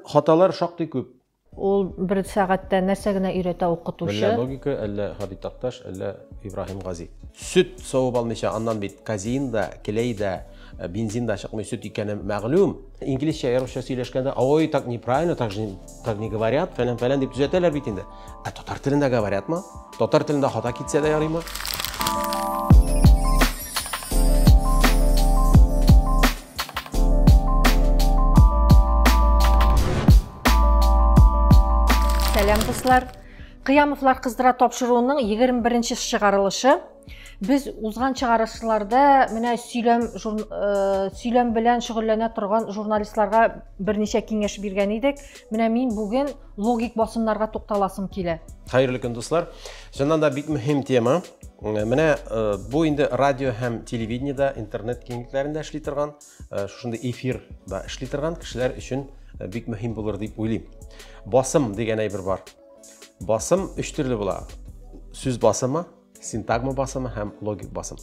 Хаталар шактый күп. Ул бер сәгатьтә нәрсә генә өйрәтә укытучы? Мөллә логика, әллә Һади Такташ, әллә Ибраһим Гази. Сөт савып алмыйча аннан бит казеин да, клей да, бензин да чыкмый, сөт икәне мәгълүм. Инглизчә, я русча сөйләшкәндә, ой, так неправильно, так же, так не говорят, фәлән-фәлән дип төзәтәләр бит инде. Ә татар телендә говорят ма? Татар телендә хата китсә дә ярыймы? Сәлам, дуслар! Кыямовлар кыздыра тапшыруының 21-нче чыгарылышы Без узган чыгарылышларда менә сөйләм э, сөйләм белән шөгыльләнә торган журналистларга берничә киңәш биргән идек. Менә мин бүген Логик басымнарга тукталасым килә. Хәерле көн, дуслар. Чыннан да бик мөһим тема. Менә э, бу инде радио һәм телевидениедә, интернет киңлекләрендә эшли торган, э, шушындый эфирда эшли торган кешеләр өчен э, бик мөһим булыр дип уйлыйм. Басым дигән әйбер бар. Басым өч төрле була. Сүз басымы, синтагма басымы һәм логик басым.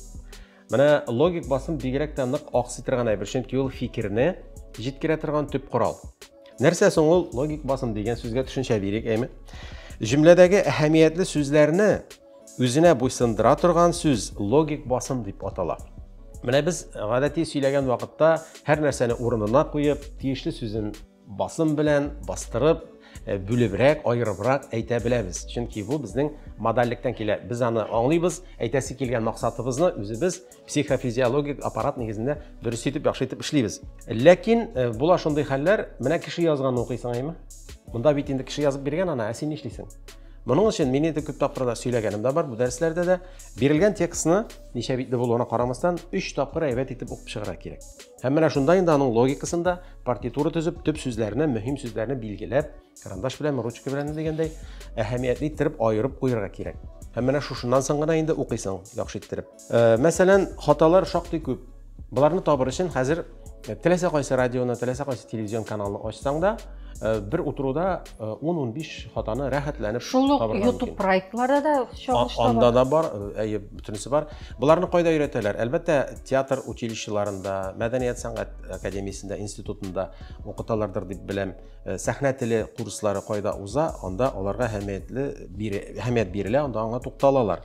Менә логик басым бигрәк тә нык аксый торган әйбер, чөнки ул фикерне җиткерә торган төп корал. Нәрсә соң ул логик басым дигән сүзгә төшенчә бирик, әйме? Җөмләдәге әһәмиятле сүзләрне үзенә буйсындыра торган сүз логик басым дип атала. Менә без гадәти сөйләгән вакытта һәр нәрсәне урынына куеп, тиешле сүзен Басым белән бастырып, э, бүлебрәк, аерыбрак әйтә беләбез. Чөнки бу безнең модальлектән килә. Без аны аңлыйбыз, әйтәсе килгән максатыбызны үзебез психофизиологик аппарат нигезендә дөрес итеп, яхшы итеп эшлибез. Ләкин э, була шундый хәлләр, менә кеше язганны укыйсың, әйме? Монда бит инде кеше язып биргән ана, ә син нишлисең? Моның өчен мин инде күп тапкырда сөйләгәнем дә бар, бу дәресләрдә дә бирелгән текстны ничә битле булуына карамастан, 3 тапкыр әйбәт итеп укып чыгарга кирәк. Һәм менә шунда инде аның логикасында партитура төзеп, төп сүзләрне, мөһим сүзләрне билгеләп, карандаш белән, ручка белән дигәндәй, әһәмиятле иттереп аерып куярга кирәк. Һәм менә шушыннан соң гына инде укыйсың яхшы иттереп. Э, мәсәлән, хаталар шактый күп. Боларны табыр өчен хәзер э, теләсә кайсы радионы, теләсә кайсы телевизион каналны ачсаң да, э, бер утыруда 10-15 э, хатаны рәхәтләнеп шул ук ютуб проектлары да чагыш таба анда да бар э, әйе бөтенесе бар боларны кайда өйрәтәләр әлбәттә театр училищеларында мәдәният сәнгать академиясендә институтында укыталардыр дип беләм э, сәхнә теле курслары кайда уза анда аларга әһәмиятле әһәмият бирелә анда аңа тукталалар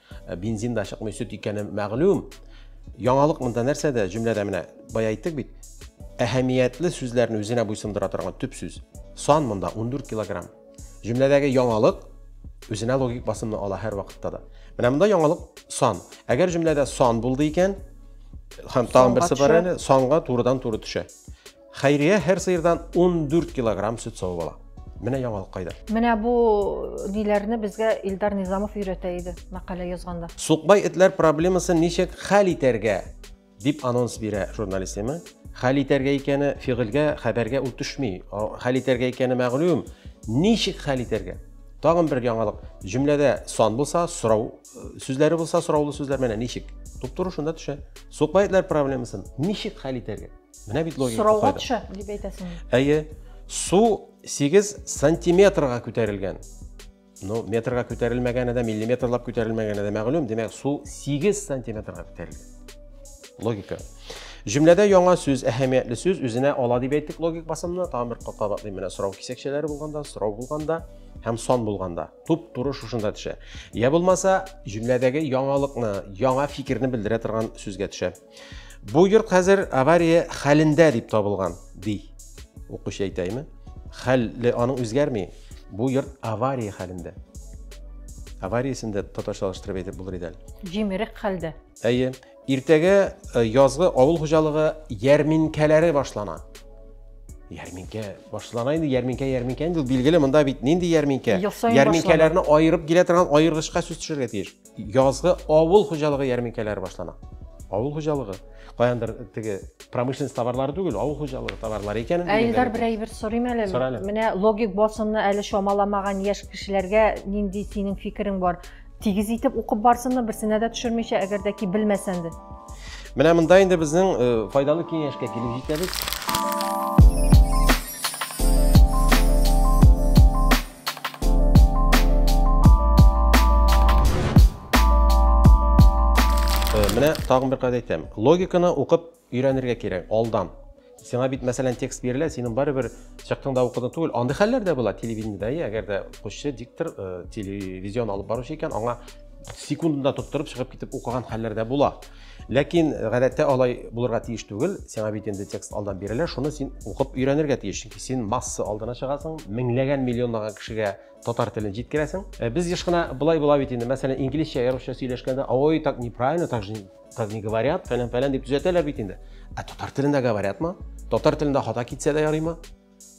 Э, бензин да чыкмый сөт икәне мәгълүм яңалык монда нәрсәдә җөмләдә менә бая әйттек бит әһәмиятле сүзләрне үзенә буйсындыра торган төп сүз сан монда 14 килограмм җөмләдәге яңалык үзенә логик басымны ала һәр вакытта да менә монда яңалык сан әгәр җөмләдә сан булды икән һәм тагын берсе бар әле санга турыдан туры төшә Хәйрия һәр сыердан 14 килограмм сөт савып ала. Менә яңалык кайда. Менә бу ниләрне безгә Илдар Низамов өйрәтә иде мәкалә язганда. Сукбай этләр проблемасын ничек хәл итәргә дип анонс бирә журналистема. Хәл итәргә икәне фигыльгә, хәбәргә ул төшми. Хәл итәргә икәне мәгълүм. Ничек хәл итәргә? Тагын бер яңалык. Җөмләдә сан булса, сорау сүзләре булса, сораулы сүзләр менә ничек? Туп-туры шунда төшә. Сукбай этләр проблемасын ничек хәл итәргә? Менә бит логика Сорауга төшә, дип әйтәсең. Әйе. Су 8 сантиметрга күтәрелгән. Ну, метрга күтәрелмәгәне дә, миллиметрлап күтәрелмәгәне дә мәгълүм. Димәк, су 8 сантиметрга күтәрелгән. Логика. Җөмләдә яңа сүз, әһәмиятле сүз үзенә ала дип әйттек логик басымны. Тагын бер капка батлыйм менә сорау кисәкчәләре булганда, сорау булганда һәм сон булганда. Туп туры шушында төшә. Я булмаса, җөмләдәге яңалыкны, яңа фикерне белдерә торган сүзгә төшә. Бу йорт хәзер авария хәлендә дип табылган, ди. Укучы әйтәйме? Хәлле аның үзгәрми. Бу йорт авария хәлендә. Авариясен дә татарчалаштырып әйтеп булыр иде әле. Җимерек хәлдә. Әйе. Иртәгә э, язгы авыл хуҗалыгы ярминкәләре башлана. Ярминкә башлана инде, ярминкә, ярминкә инде, билгеле, монда бит нинди ярминкә? Ярминкәләрне аерып килә торган аергычка сүз төшергә тиеш. Язгы авыл хуҗалыгы ярминкәләре башлана. Авыл хуҗалыгы, каяндыр теге промышленность товарлары түгел, авыл хуҗалыгы товарлары икәнен. Ә Илдар бер әйбер сорыйм әле. Сорале. Менә логик басымны әле чамаламаган яшь кешеләргә нинди синең фикерең бар? Тигез итеп укып барсынмы, берсенә дә төшермичә, әгәр дә ки белмәсәң дә. Менә монда инде безнең э, файдалы киңәшкә килеп җитәбез. Менә тагын бер кайда әйтәм. Логиканы укып өйрәнергә кирәк алдан. Сиңа бит мәсәлән текст бирелә, синең барыбер чыктың да укыдың түгел. Андый хәлләр дә була телевидениедә, әгәр дә укучы диктор э, телевизион алып баручы икән, аңа секундында тоттырып чыгып китеп укыган хәлләр дә була. Ләкин гадәттә алай булырга тиеш түгел. Сиңа бит инде текст алдан бирелә, шуны син укып өйрәнергә тиеш. Чөнки син масса алдына чыгасың, меңләгән, миллионлаган кешегә татар телен җиткерәсең. Э, без еш кына былай була бит инде, мәсәлән, инглизчә я русча сөйләшкәндә, ой, так неправильно, так же так не говорят, фәлән-фәлән дип төзәтәләр бит инде. Ә татар телендә говорятмы? Татар телендә хата китсә дә ярыймы?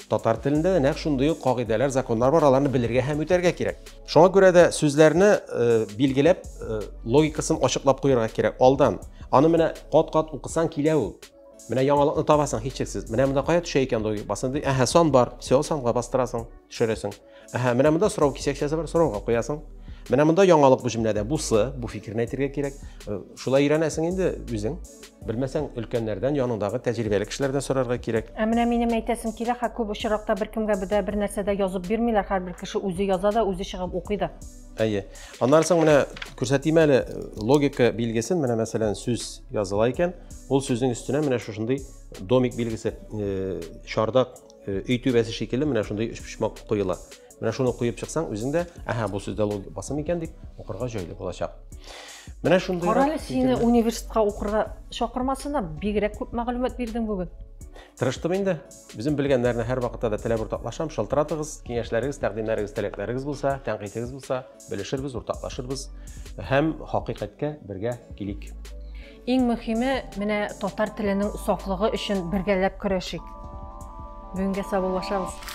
Татар телендә дә нәкъ шундый ук кагыйдәләр, законнар бар, аларны белергә һәм үтәргә кирәк. Шуңа күрә дә сүзләрне э, билгеләп, э, логикасын ачыклап куярга кирәк алдан. Аны менә кат-кат укысаң килә ул. Менә яңалыкны табасың һичшиксез. Менә монда кая төшә икән логик басында? Әһә, сан бар. Все, санга бастырасың, төшерәсең. Әһә, менә монда сорау кисәкчәсе бар, сорауга куясың. Менә монда яңалык бу җөмләдә. Бусы, бу фикерне әйтергә кирәк. Э, шулай өйрәнәсең инде үзең. Белмәсәң, өлкәннәрдән, яныңдагы тәҗрибәле кешеләрдән сорарга кирәк. Ә менә минем әйтәсем килә, хә күп очракта беркемгә бер дә бер нәрсә дә язып бирмиләр. Һәрбер кеше үзе яза да, үзе чыгып укый да. Әйе. Аннан соң менә күрсәтим әле э, логика билгесен. Менә мәсәлән сүз языла икән, ул сүзнең өстенә менә шушындый домик билгесе, э, чардак Э, өй түбәсе шикелле менә шундый өчпочмак куела менә шуны куеп чыксаң үзең дә әһә бу сүздә логик басым икән дип укырга җайлы булачак менә шундый кара әле сине университетка укырга чакырмасыннар бигрәк күп мәгълүмат бирдең бүген тырыштым инде үзем белгәннәрне һәр вакытта да теләп уртаклашам шалтыратыгыз киңәшләрегез тәкъдимнәрегез теләкләрегез булса тәнкыйтегез булса Белешербез, уртаклашырбыз һәм хакыйкатькә бергә килик. Иң мөхиме, менә татар теленең сафлыгы өчен бергәләп көрәшик. Бүгенгә саубуллашабыз.